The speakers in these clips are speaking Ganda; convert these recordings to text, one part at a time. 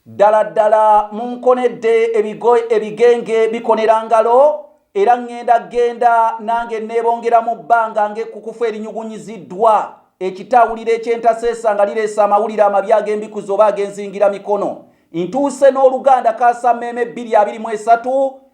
Ddala ddala munkonedde ebigo ebigenge bikonera ngalo, era ŋŋenda ggenda nange nneebongera mu bbanga ng'ekkukufu erinyugunyiziddwa, ekitaawuliro eky'entaseesa nga lireese amawulire amabi ag'embikuzi oba ag'enzingiramikono. Ntuuse n'oluganda kaasammeeme bbiri abiri mu esatu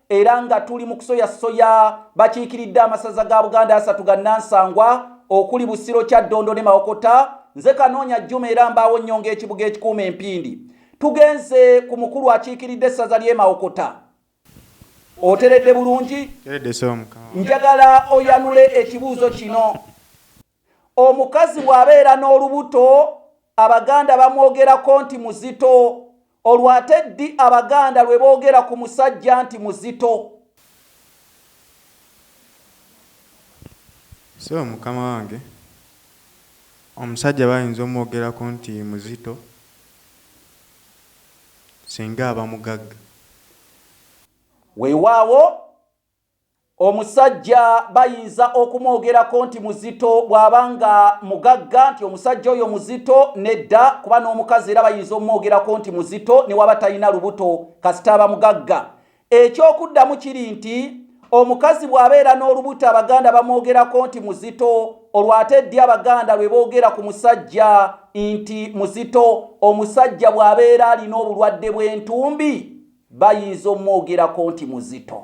era nga tuli mu kusoyasoya bakiikiridde amasaza ga buganda asatu ga nansangwa okuli busiro kya ddondo ne mawokota nze kanoonya jjuma era mbaawo nnyo ng'ekibuga ekikuuma empindi tugenze ku mukulu akiikiridde essaza ly'emawokota oteredde bulungi njagala oyanule ekibuuzo kino omukazi bw'abeera n'olubuto abaganda bamwogerako nti muzito olwo ate ddi abaganda lwe boogera ku musajja nti muzito so mukama wange omusajja bayinza omwogerako nti muzito singa aba mugagga weewaawo Omusajja bayinza okumwogerako nti muzito bw'aba nga mugagga nti omusajja oyo muzito nedda kuba n'omukazi era bayinza omumwogerako nti muzito ne waba talina lubuto kasita aba mugagga. Eky'okuddamu kiri nti omukazi bw'abeera n'olubuto Abaganda bamwogerako nti muzito. olwo ate ddi abaganda lwe boogera ku musajja nti muzito omusajja bw'abeera alina obulwadde bw'entumbi bayinza omwogerako nti muzito